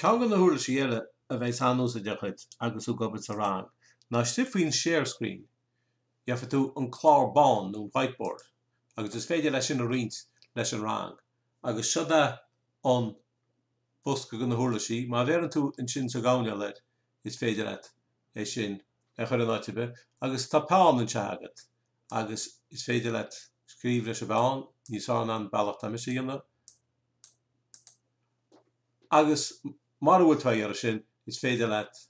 Ceann de na huirlisí eile a bheas an-úsáideach duit agus tú ag obair sa rang ná istigh faoin 'share screen', gheobhaidh tú an clár bán nó an 'whiteboard' agus is féidir leat sin a roinnt leis an rang. Agus seo'd é an bosca de na huirlisí, má bheireann tú ansin sa gcoirnéal air, is féidir leat é sin a chur in áit ar bith agus tá peann anseo agat agus is féidir leat scríobh leis an bpeann, níos fearr ná an bealach atá mise á dhéanamh. Agus mura bhfuil tú ag iarraidh sin, is féidir leat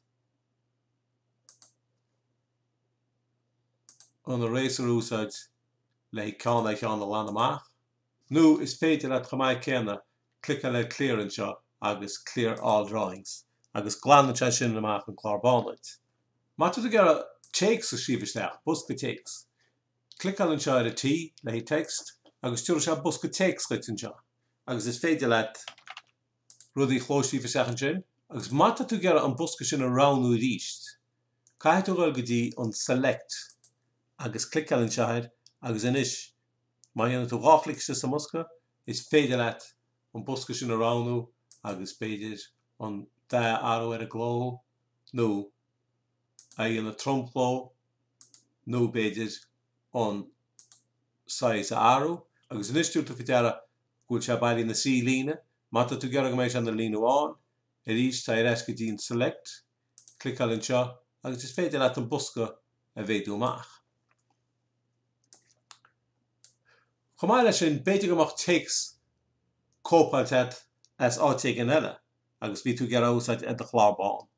an eraser a úsáid le haghaidh ceann ar cheann a ghlanadh amach, nó is féidir leat chomh maith céanna cliceáil ar Clear anseo agus Clear All Drawings agus glanann sé sin amach an clár bán duit. Má tá tú ag iarraidh téacs a scríobh isteach, bosca téacs, cliceáil anseo ar an T le haghaidh text agus tabharfaidh sé bosca téacs duit anseo. agus is féidir leat rudaí a chlóscríobh isteach ansin agus má tá tú ag iarraidh an bosca sin a roghnú arís caithfidh tú a dhul go dtí an Select agus cliceáil anseo air agus anois má dhéanann tú dhá chlic isteach sa mbosca is féidir leat an bosca sin a roghnú agus b'fhéidir an dath a athrú ar an gcló nó é a dhéanamh tromchló nó b'fhéidir an size a athrú. Agus anois tabharfaidh tú faoi deara go bhfuil sé bailithe ina thrí líne. Má tá tú ag iarraidh go mbeidh sé ina líne amháin arís téigh ar ais go dtí an Select, cliceáil anseo agus is féidir leat an bosca a mhéadú amach. Chomh maith leis sin b'fhéidir go mbeadh téacs cóipeáilte agat as áit éigin eile agus bhí tú ag iarraidh é a úsáid ar do chlár bán.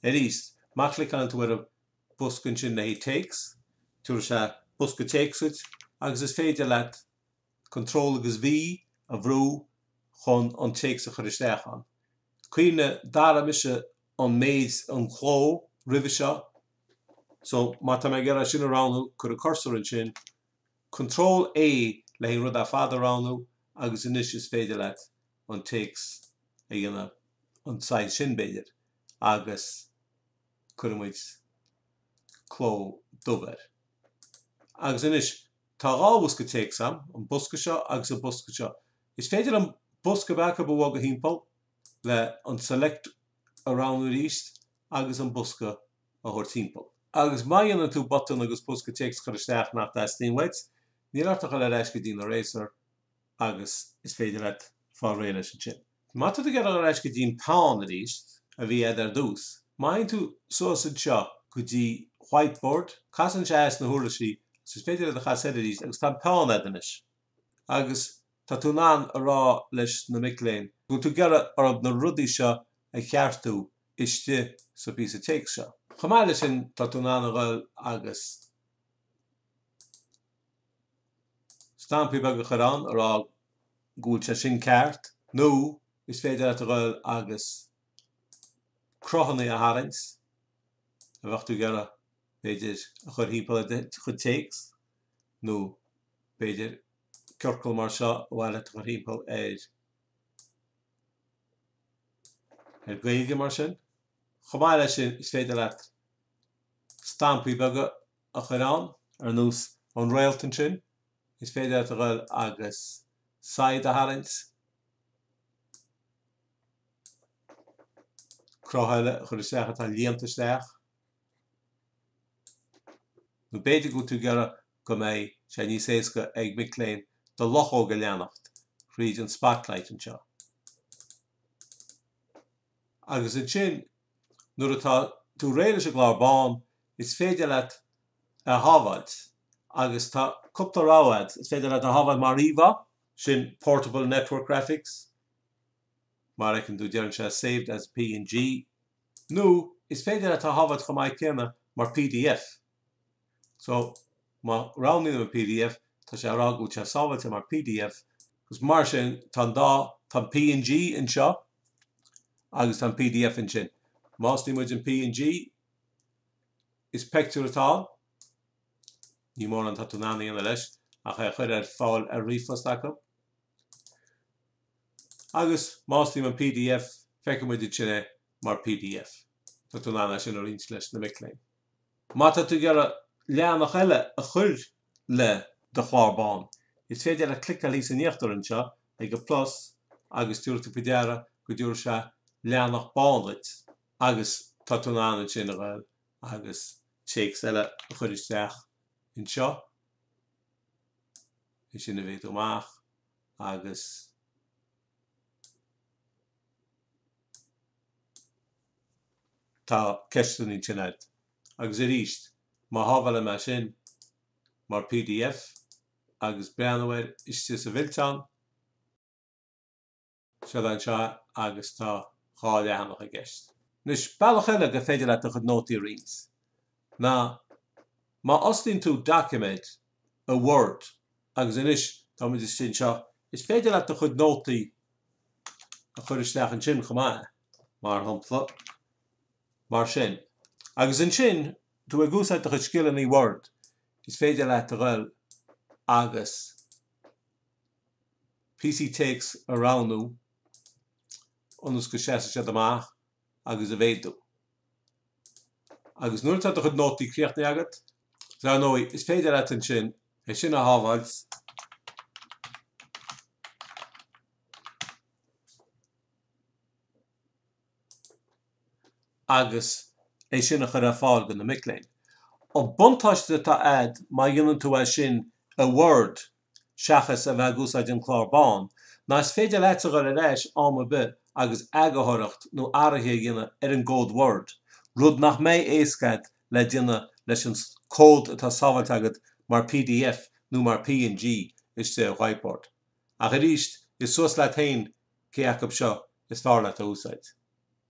Arís, má chliceálann tú ar an. bosca ansin le haghaidh téacs, tabharfaidh sé bosca téacs dhuit agus is féidir leat Control agus V a bhrú chun an téacs a chur isteach ann. Cuimhnigh, d'athraigh mise an méid, an chló, roimhe seo, so má tá mé ag iarraidh sin a roghnú, cuir an cursor ansin, Control A le haghaidh an rud ar fad a roghnú agus anois is féidir leat an téacs a dhéanamh an size sin b'fhéidir agus Cuirfidh muid cló dubh air. Agus anois, tá dhá bhosca téacs agam, an bosca seo agus an bosca seo. Is féidir aon bhosca ar bith acu a bhogadh thimpeall le an select a roghnú arís agus an bosca a thabhairt thimpeall. Agus má dhéanann tú botún agus bosca téacs a chur isteach nach dteastaíonn uait, níl ort ach a dhul ar ais go dtí an eraser agus is féidir leat fáil réidh leis ansin. Má tá tú ag dul ar ais go dtí'n peann arís, a bhí a'd ar dtús, má théann tú suas anseo go dtí whiteboard, cas air seo sna huirlisí agus is féidir leat é a chasadh air arís agus tá an peann a'd anois. Agus tá tú in ann a rá leis na mic léinn go bhfuil tú ag iarraidh orthub na rudaí seo a cheartú istigh sa phíosa téacs seo. Chomh maith leis sin, tá tú in ann a ghoil agus. stampaí beaga a chur ann a rá go bhfuil sé sin ceart nó is féidir leat a ghoil agus cruthanna a tharraingt a bheadh tú ag iarraidh b'fhéidir a chur thimpeall ar cuid téacs nó b'fhéidir ciorcal mar seo ba mhaith leat a chur thimpeall ar ar Gaeilge mar sin. Chomh maith leis sin is féidir leat stampaí beaga a chur ann, ar nós an réalt ansin, is féidir leat a dhul agus saighead a tharraingt, cruth eile a chur isteach atá líonta isteach, nó b'fhéidir go bhfuil tú ag iarraidh go mbeidh sé níos éasca ag mic léinn do luchóg a leanacht thríd an spotlight anseo. Agus ansin Nuair atá tú réidh leis an gclár bán, is féidir leat é a shábháilt agus tá cúpla rogha agat, is féidir leat é a shábháilt mar íomhá, sin Portable Network Graphics, mar a fheiceann tú deireann sé saved as png, nó is féidir leat é a shábháilt chomh maith céanna mar pdf. So, má roghnaím an pdf, tá sé á rá go bhfuil sé sábháilte mar pdf. Agus mar sin, tá an dá, tá an png anseo agus tá an pdf ansin. Má osclaíonn muid an png, is pictiúr atá ann. Ní mórán atá tú in ann a dhéanamh leis ach a chur ar fáil ar ríomhphost acu. Agus má osclaím an pdf, feicfidh muid ansin é mar pdf. Tá tú in ann é sin a roinnt leis na mic léinn. Má tá tú ag iarraidh leathanach eile a chur le do chlár bán, is féidir leat cliceáil thíos in íochtar anseo ag an plus agus tabharfaidh tú faoi deara go dtabharfaidh sé leathanach bán duit agus tá tú in ann ansin a dhul agus téacs eile a chur isteach anseo, é sin a mhéadú amach agus. Tá ceisteanna ansin a'd. Agus arís, má shábhálaim é sin mar pdf agus breathnú air istigh sa bhfillteán, seo é anseo agus tá dhá leathanach i gceist. Anois, bealach eile gur féidir leat do chuid nótaí a roinnt ná má osclaíonn tú doiciméad a Word. Agus anois, táimid istigh anseo, is féidir leat do chuid nótaí a chur isteach ansin chomh maith, mar shampla, mar sin. Agus ansin, tú ag úsáid do chuid scileanna Word, is féidir leat a dhul agus píosaí téacs a roghnú ionas go seasfaidh siad amach agus a mhéadú. Agus nuair atá do chuid nótaí críochnaithe agat, dar ndóigh, is féidir leat ansin é sin a shábháilt agus é sin a chur ar fáil do na mic léinn. An buntáiste atá agat má dhéanann tú é sin i Word, seachas a bheith ag úsáid an clár bán, ná is féidir leatsa dhul ar ais am ar bith agus eagarthóireacht nó athraithe a dhéanamh ar an gcód Word, rud nach mbeidh éasca agat le déanamh leis an cód atá sábháilte agat mar pdf nó mar png istigh ar Whiteboard. Ach arís, is suas leat féin cé acu seo is fearr leat a úsáid.